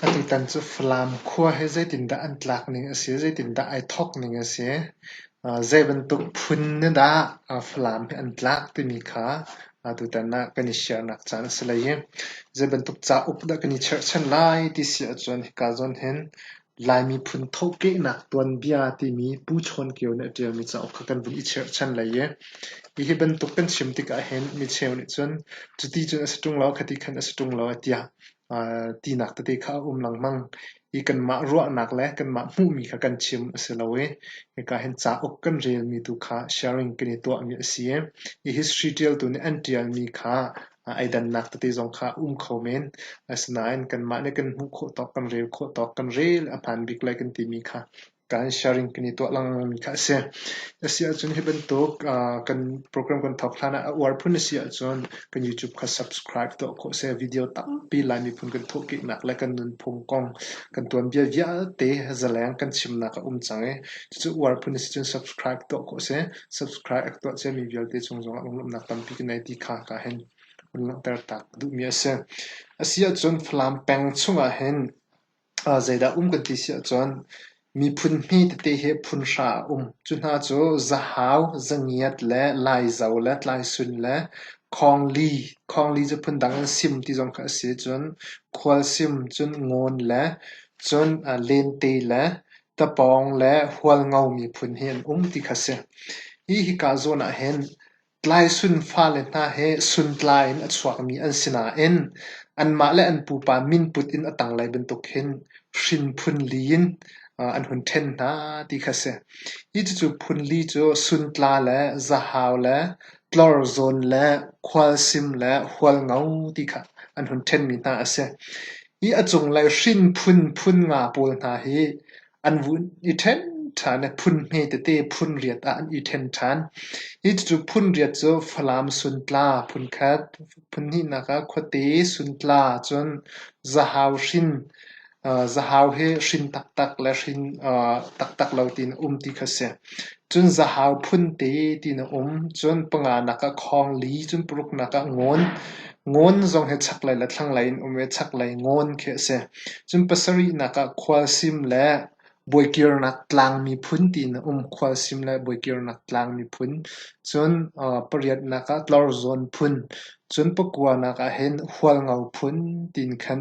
Atutan cu Falam khua hi zeitindah an tlak ning a si, zeitindah ai thawk ning a si, zeibantuk phun nih dah Falam hi an tlak timi kha Atutan ah kan i siahnak caan a si hlei i zei bantuk cauk dah kan i cherhchan lai ti si ahcun hika zawn hin Lai miphun thawhkehnak tuanbia timi Pu Chawn Kio nih a ṭialmi cauk kha kan vun i cherhchan hlei i hihi bantuk kan chim tikah hin micheu nih cun cuti cun a si ṭung lo, khati khan a si ṭung lo tiah tinak tete kha a um lengmang i kanmah ruahnak le kanmah hmuhmi kha kan chim a si lo i hika hin cauk kan relmi tu kha sharing kan i tuahmi a si i i history ṭialtu nih an ṭialmi kha ai dannak tete zong kha a um kho men asinain kanmah nih kan hmuh khawh tawk kan rel khawh tawk kan rel a hmaan bik lai kan timi kha kan sharing kan i tuah lengmang kha a si. A si ahcun hi bantuk kan program kan thawk hlan ah a uar phun a si ahcun kan YouTube kha subscribe tuah khawh seh. Video tampi Lai miphun kan thawhkehnak le kan nunphung kong kan tuanbia vialte zaleng kan chimnak a um cang i cucu uar phun a si cun subscribe tuah khawh seh. Subscribe a tuah ciami vialte cung zongah lunglawmhnak tampi kan nei ti kha ka hin hun langhter tak duhmi a si. A si ahcun Falam peng chungah hin Zeidah um kan ti si ahcun miphun hme tete hi phunhra a um. Cu hna cu zahau, zangiat le laizo le tlaisun le khawngli. Khawngli cu phundang in sim ti zong kha a si. Cun khualsim, cun ngawn le cun lente le tapawng le hualngo miphun hi an um ti kha a si. Hi hika zawn ahhin Tlaisun fale hna he suntlai in a chuakmi an si nain anmah le an pupa min put in a tanglei bantuk hin hrinphun li in an hun ṭhen hna ti kha a si. Hi cucu phun li cu suntla le zahau le tlorzawn le khualsim le hualngo ti kha an hun ṭhenmi hna a si. Hi a cunglei hrinphun phun nga pawl hna hi an vun i ṭhen ṭhan i phun hme tete phun riat ah an i ṭhen ṭhan. Hi cucu phun riat cu Falam suntla phun khat, phun hnihnak ah khuate suntla ahcun zahau hrin, zahau hi hrin taktak le hrin taktak lo tiin a um ti kha a si. Cun zahau phun te ti na um. Cun panga nak ah khawng li cun paruk nak ah ngawn. Ngawn zong hi chaklei le thlanglei in um i chaklei ngawn khi a si. Cun pasarih nak ah khualsim le buaikirnak tlang miphun ti na um. Khualsim le buaikirnak tlang miphun. Cun pariat nak ah tlorzawn phun. Cun pakua nak ah hin hualngo phun ti in khan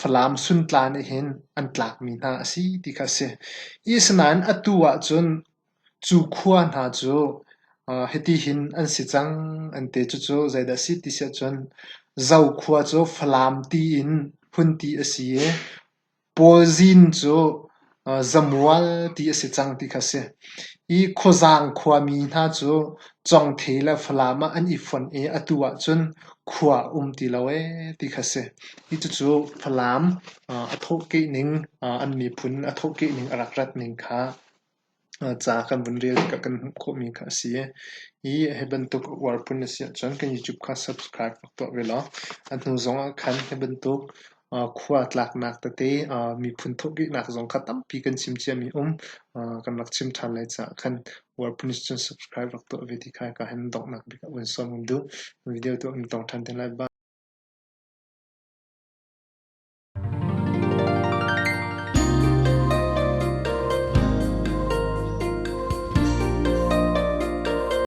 Falam suntla nih hin an tlakmi hna a si ti kha a si. Asinain atu ahcun cu khua hna cu hitihin an si cang an ti. Cucu zeidah a si ti si ahcun Zokhua cu Falam tiin hmun ti a si i Pawlzin cu zamual ti a si cang ti kha a si. Hi khuazang khuami hna cu congthei le falam ah an i fonh i atu ahcun khua a um ti lo ee ti kha a si. Hi cucu falam a thawhkeh ning, an miphun a thawhkeh ning, a rak rat ning kha ca kan vun rel tikah kan hmuh khawhmi kha a si. Hi hi bantuk uarpun a si ahcun kan YouTube kha subscribe rak tuah ve law a hnu zongah khan hi bantuk khua a tlaknak tete miphun thukihnak zong kha tampi kan chim ciami a um. kan rak chim ṭhan lai caah khan World Police cu subscribe rak tuah ve ti kha ka han donghnak bik ah van sawm um duh. Video tu an tong ṭhan te lai ba.